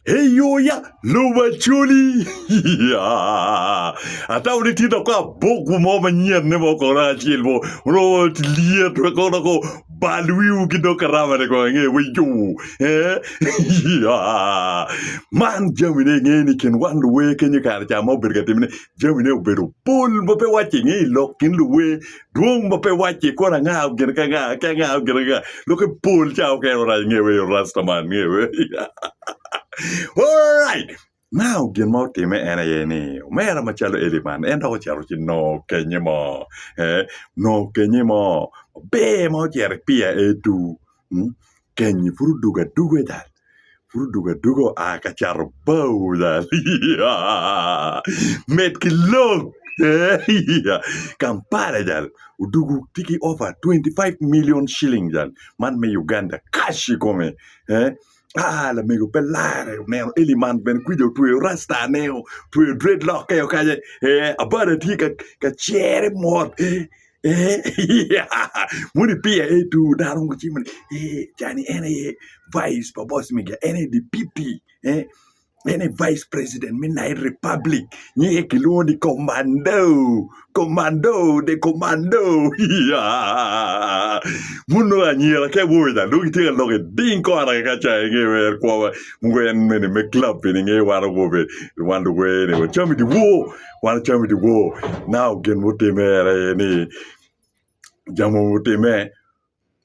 Eyoya lubo acoli. Ata wuni tye dok abuku mo manyen ne mo kono acel mo. Ono lyet wa kono dok bal wiwu ki dok karama ne kono nge we yo. Eh. Man jami ne nge ni kin wan luwe kenyo kare cha ma obedo ka timne jami ne obedo pol ma pe wace nge lok kin luwe Dwong ma pe wacce ikor angao gin ki anga ki angao gin anga lok ki pol ca okene orac nge wa eyo rasta man nge wa alright now gin ma otime en aye ni omera macalo Eli man en dok ocito ci nongo kenye mo nongo kenye mo maber ma ocito i piya etu Kenyi pud odwogo adwoga ita, pud odwogo adwoga oa ka cato bao dok med ki lok eeiya Kampala jal odwogo tye ki ofa twenty five million ciling jal man me Uganda cash i kome ee aa lamego pe lare oneno Eli man bene kwija otweyo rastane otweyo dread lock-keo kanya ee Abada tye ka cere mot ee Moni piya aye two dano mogo cimo ni ee cani en aye vice pa boss media en aye deputy en aye vice president me Nile republic nyinge kilwongo ni komando komando the komando mon nongo anyira ki awobe ca nongo gitye ka lok iding kora kaka ca inge wer kwowa mogo en mene me club bene inge wan awobe wan luwene wacam idiwor Wan calo me dyewo naka gin mutimme aye ni jami mogo gutimme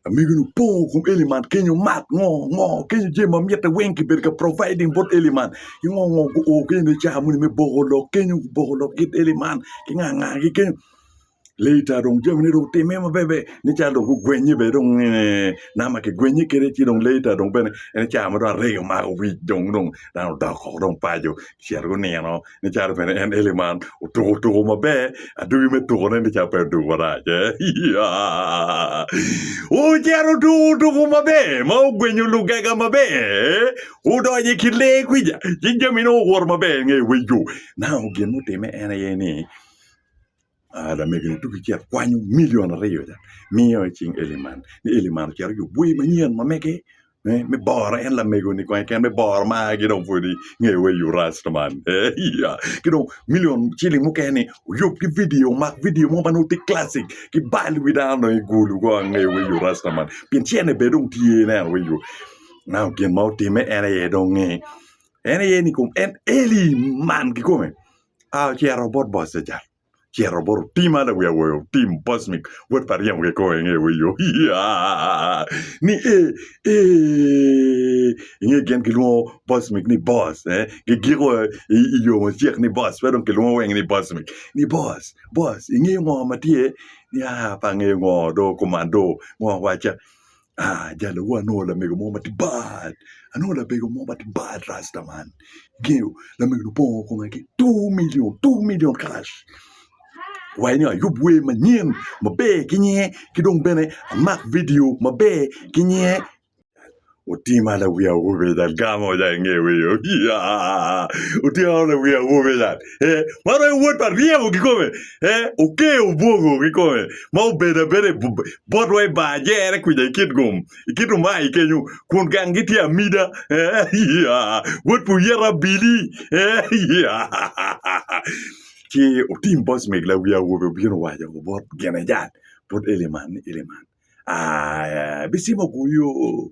amigo ni opo kom eli man kenyo mat ngo ngo kenyo jami ma mitte weng kibedo ka providing bot eli man ki ngo ngo guo kenyo ni car moni me boko lok kenyo boko lok kit eli man ki nga nga ki kenyo Later dong jami ni dong otime maber ber ni calo dong gugwenye bene dong eh, na ma kigwenye kede ci dong later dong bene en ca ma dong arega omako wic dong dong dano odok oko dong paco cito gunino ni calo bene en eli man otuko tuko maber adugi me tukone ni ca pe odugo marac eh. Yeah. Ocito otuko tuko maber ma ogwenyo lugega maber eh. odonyo i kin lee kwica ci jamine owoto maber nge wego na gin mutime en aye ni Aa, lamegoni tuki ci akwanyo milion aryo ca, miyo i cing Eliman, ni Eliman ocit ojubo bwoi manyen ma mege eh, me boro en lamegoni kong keken, me boro maa ki dong pwod inge wa i Urasta man. Eh, iya. Ki dong milion ciling mukene-ni oyub ki vidio, omak vidio mo ma nongo tye classic, ki bal wi dano dong i gulu kong ange wa i Urasta man. Pien cene bene dong tye, ineno wa i yo. Now, gin ma otimme en aye dong ni, en aye ni kom, en Eliman kikome, a ocito bot Bocejac, ocito bot otim ma lawiye awoyo, otim Bocmic, wod pa Aryem kong kong inge wei yo, iyaa, ni ee, eeee, inge gin gilwongo Bocmic ni Boc, eh, gigiko i i yo macek ni Boc, pe dong kilwongo weng ni Bocmic, ni Boc, Boc, ingeyo ngo ma tye? Ni aa, pe angeyo ngo, do kuman do, ngo waca, Ah jalawu anongo lamego mo ma tye bad, anongo labego mo ma tye bad rasta man. Ingeyo lamego-ni obongo kome ki two milion, two milion karac. Owaco ni ayub wer manyen maber ki nyinge ki dong bene amak vidio maber ki nyinge. Otima lawi awobi eni dok gamo ca inge wiyo. Otima lawi awobi ca. eh, ma royo wod pa ryeko kikome, eh, okeyo obwogo kikome, ma obedo abeda i bu- botwa i bar jere kwica i kit gum, i kit umayi kenyo, kun gang gitye amida, eh, ya, wod pa oyeta abili, eh, ya. Ci otim bos meg lawi awobi obino owaco bot Genejan, bot Eliman ni, Eliman, ah, eh, bicimo guyo.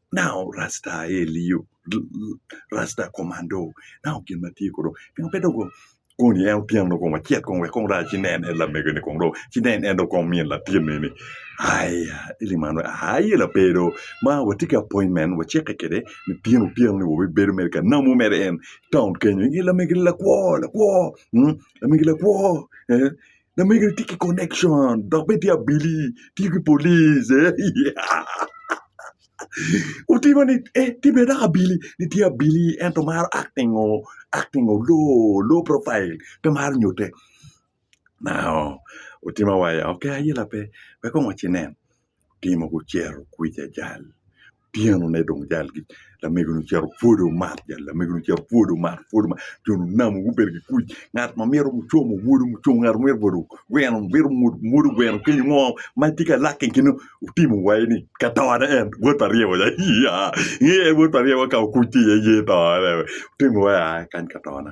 nao rasta aye liyo rasta komando nao gin ma tye kono pingo pe dong koni en otyen dong kong wacit kong wek kong raa ci nen en lamego ni kong dong ci nen en dong kong min latin eni aya ili man wai aye lape do ma watye ki appointment wacike kede litino otyeno ni wabibedo mere ka namu mere en taun kenyo i lamegi lakwo lakwo lamegi lakwo Lamege tye ki connection dok bene tye abili, tiyo ki police. Otima ni eh tye bene dok abili, ni tye abili ento maro acting o, acting o low, low profile, pe maro nyute. Nao, otima waya, okay ayela pe, wek kong wacci nen. otimo ki ocito kwica jal otyeno-ni dong jal lamego-ni ocito pud omato jal lamego-ni ocito pud omato pud omato jo onamo gubedo ki kuc ngat ma myero ocomo omwodo muco ngat ma myero obedo ogweno myero omwod omwodo ogweno kenyo ngo ma tye ka lakke i kine otimo wai ni ka tone en bot pa ryeko ca ii aa inge bot pa ryeko ka okuc ci iye yer tone otimo wai aa kany ka tona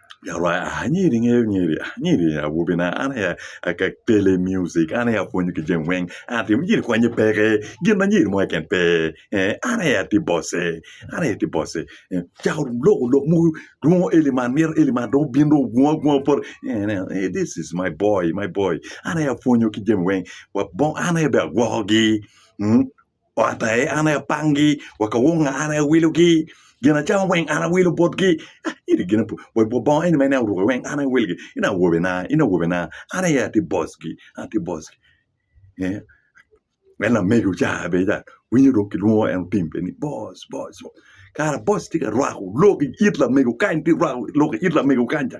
anyiri ingeyo nyiri anyiri awobi na an aye akele music an aye apwonyo ki jami weng nyiri ikwanye peke gin ma nyiri mo keken pe an aye atye bosse an aye atye bosse cako loko lok mogo dwongo eli man mito eli man dong obin dong ogwong agwonga bot this is my boy my boy an aye apwonyo ki jami weng an aye bene agwokogi. Ot aye an aye apangi, wa ka wonga an aye awilogi, gin acamo weng an aye awilo botgi. Ah, iri gin apu, wa wa bongo eni ma in aye iruko weng an aye awilgi. In awobena, in awobena, an aye atye bossgi, an atye bossgi. Eh, en lamego ca bene ca winyo dong kilwongo en otim bene ni boss, boss, boss. Kara boss tye ka rwako lok i it lamego kany, tye rwako lok i it lamego kany ca.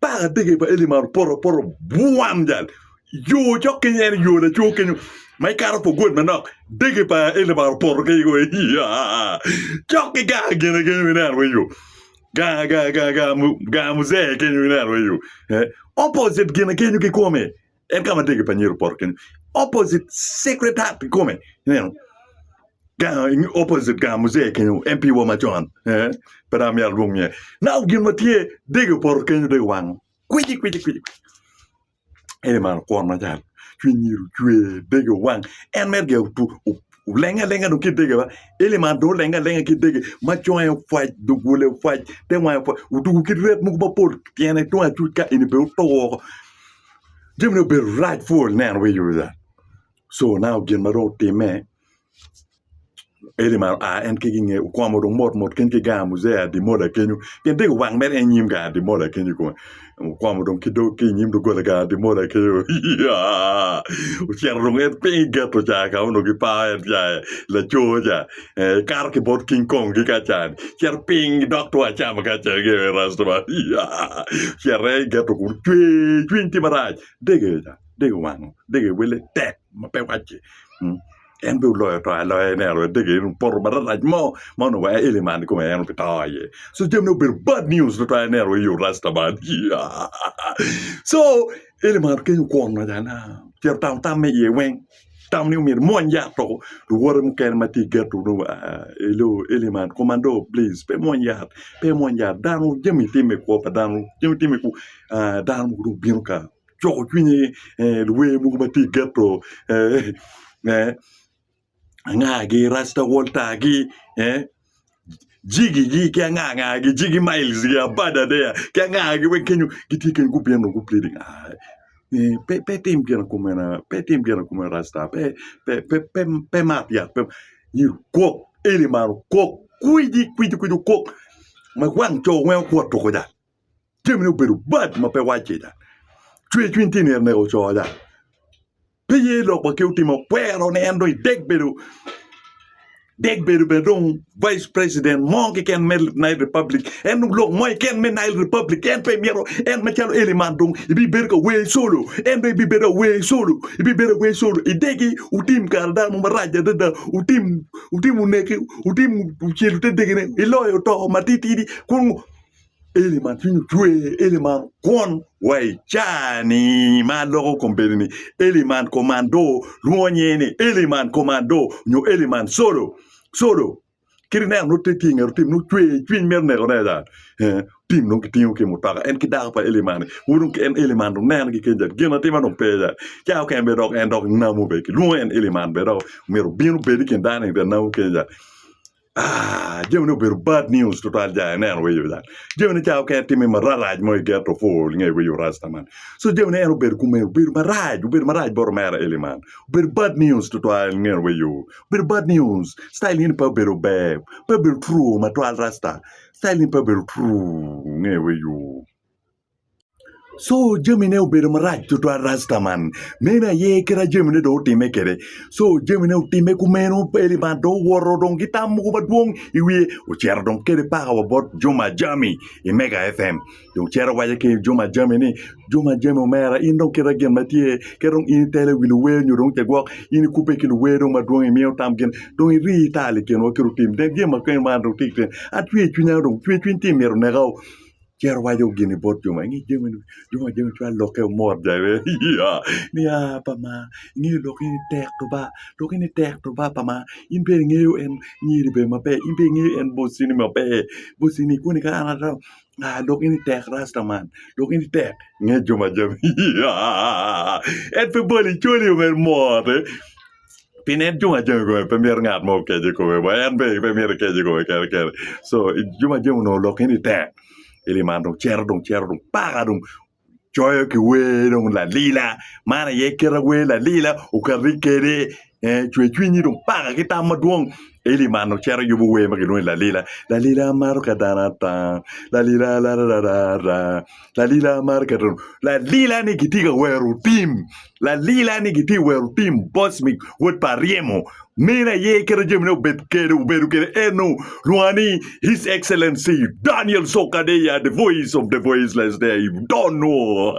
Paka ategge pa Eli man opoto opoto bwam jal yo cok keny en yo laco kenyo ma ikato for good manok dege pa Eli man opoto keny go iya cok ki ganga gine kenyo ineno weng yo ganga ganga ganga ganga muzee kenyo ineno weng yo eh, opposite gine kenyo kikome En ka ma tegi pa Nyero poto kenyo, opposite secretariat kikome. Ineno? Gang, in- opposite gang muzee kenyo, MP wa macon. Eh, pe dang amyero alwong nyinge. Now gin ma tye, dege opoto kenyo, dege owango. Kwiji, kwiji, kwiji. Ene man kwon macal. Cwiny Nyero ocwer, dege owang. En mere gin otu, o- olenge alenga dong ki dege ba. Eli man dong olenge alenga ki dege, ma conge opwac, dugule opwac, te wange opwac, otugo ki ret mogo mapol tyene tung acuc ka eni bene otur. Jami dong obedo rac pol neno wa i yo ca. Co now gin ma dong otimme, Eli omaro aa en keken i nge okomo dong mot mot keken ki gang muzee Ademola kenyo pien tego wang mere en nyim gang Ademola kenyo i kome. Okomo dong ki dog ki i nyim doggola gang Ademola kenyo iyaa ocito dong en piny i geto ca ka onongo gipao en ca laco ca Kato ki bot King Kong ki Kacan. Cito piny gidok two acama ki acel ki i restaurant. Cito i geto kun cwer cwiny tye marac. Dege ca, dege wango, dege wele tek ma pe wacce. Mm. En be oloyo to aloya ene aloya dege en opoto mararac mo ma onongo wa eli man kome en obi to iye. So jamine obedo bad news tutwal ene aloya i rasta man. So eli man kenyo kwon macana. Cito tamo tam me iye weng. tamo ni myero imwony yat woko luwote mukene ma tye geto nongo i lobo eli man komando plic pe imwony yat pe imwony yat dano jami tim me kwo pa dano jami tim me kwo dano mogo dong obino ka coko cwinye luwer mogo ma tye geto anga gi rasta walter gi jigigi ki angangagi jigi miles gi apar adek ki angangagi weng kenyo gitye kenyo gubino gubedo ii pe pe itim gin kumena pe itim gin kumena rasta pe pe pe pe pe imat yat pe myero okok eli man okok kwidi kwidi kwidi okok ma wang co weng okwot tuku ca jami ne obedo bad ma pe wacce da. Cwer cwiny tye nere neka ocoo da. Pe ye lok wa ke otimo kwero ne en dong idek bedo dek bedo bene dong vice president mo keken me Nile Republic. En dong lok mo keken me Nile Republic en pe myero en macalo Eli man dong ibibedo ka wer solo. En dong ibibedo ka wer solo. Ibibedo ka wer solo. Idegi utim kare dano mo marac adada. Utim utim uneki, utim ucelo te degene, iloyo to matitidi kun Eli man cwiny otwe, Eli man kwon wa i caa-ni ma loko kombeddi-ni, Eli man komando, lwongo nyinge ni Eli man komando nyo Eli man colo, colo. Kit ineno nongo tye ki i nget otim nongo cwe, cwiny mito neko ne ada. Eh, otim nongo kitingo ki i mutoka en ki dako pa Eli man-ni. Wun dong ki en Eli man dong nenogi kenyo ca gin atima dong pe ca. Caa okene bene dok en dok namo bene kilwongo en Eli man bene dok omyero obin obed i kin dano-ni bene namo kenyo ca. Aah jamine obedo bad news tutwal ja aneno wiyo ya jamine ca okene timi mararac mo i ghetto four nge wiyo rasta man so jamine en obedo kume obedo marac obedo marac bot omera Eli man obedo bad news tutwal nge wiyo obedo bad news citayil ni pe obedo ber pe obedo true matwal rasta citayil ni pe obedo true nge wiyo Co jamine obedo marac tutwal rastaman meno aye kite jamine dong otime kwede co jamine otime kumeno Eli man dong owoto dong ki tam mogo madwong i wiye ocito dong kede paka wa bot Juma Jami i Mega FM dong cito waco ki Juma Jami ni Juma Jami omera in dong kita gin ma tye kit dong in itelo i wi luwer nyo dong cagwok in ikubbe ki luwer dong madwong imiyo tam gin dong iri ital i kinwa kit otim dong gin ma kene ma an dong atye atyer cwinya dong tyer cwiny tye myero oneka-o Cen owaco gini bot jo ma, inge jami-ni, jo ma jami cwalo lokke omot ja bene iyyaa, ni aa pa ma ingeyo lok eni tek rubba, lok eni tek rubba pa ma, in bene ingeyo en nyiri bene maber, in bene ingeyo en bossini maber, bossini koni ka an atamo aa lok eni tek rasta man, lok eni tek inge jo ma jami iyyaa, en pe boli col-li omeri mote. pien en jami ajami kong pe mito ngat mo okece i kome wa en bene pe myero ekece i kome kene kene co jami ajami onongo olokke ni tek i lim man dong cito dong cito dong paka dong coyo ki wer dong lalila man aye kite wer lalila okato ni kede cwer cwinyi dong paka ki tam madwong i lim man dong cito yubo wer ma kilwongo ni lalila, lalila an maro ka dano ata lalila rararara. Lalila maro keto lalila ni gitye ka wero tim lalila ni gitye ka wero tim boc mi wod pa ryemo meno aye keto jamine obed kede obedo kede eno lwonga ni his excellency Daniel Sokadeya the voice of the voiceless there you don't know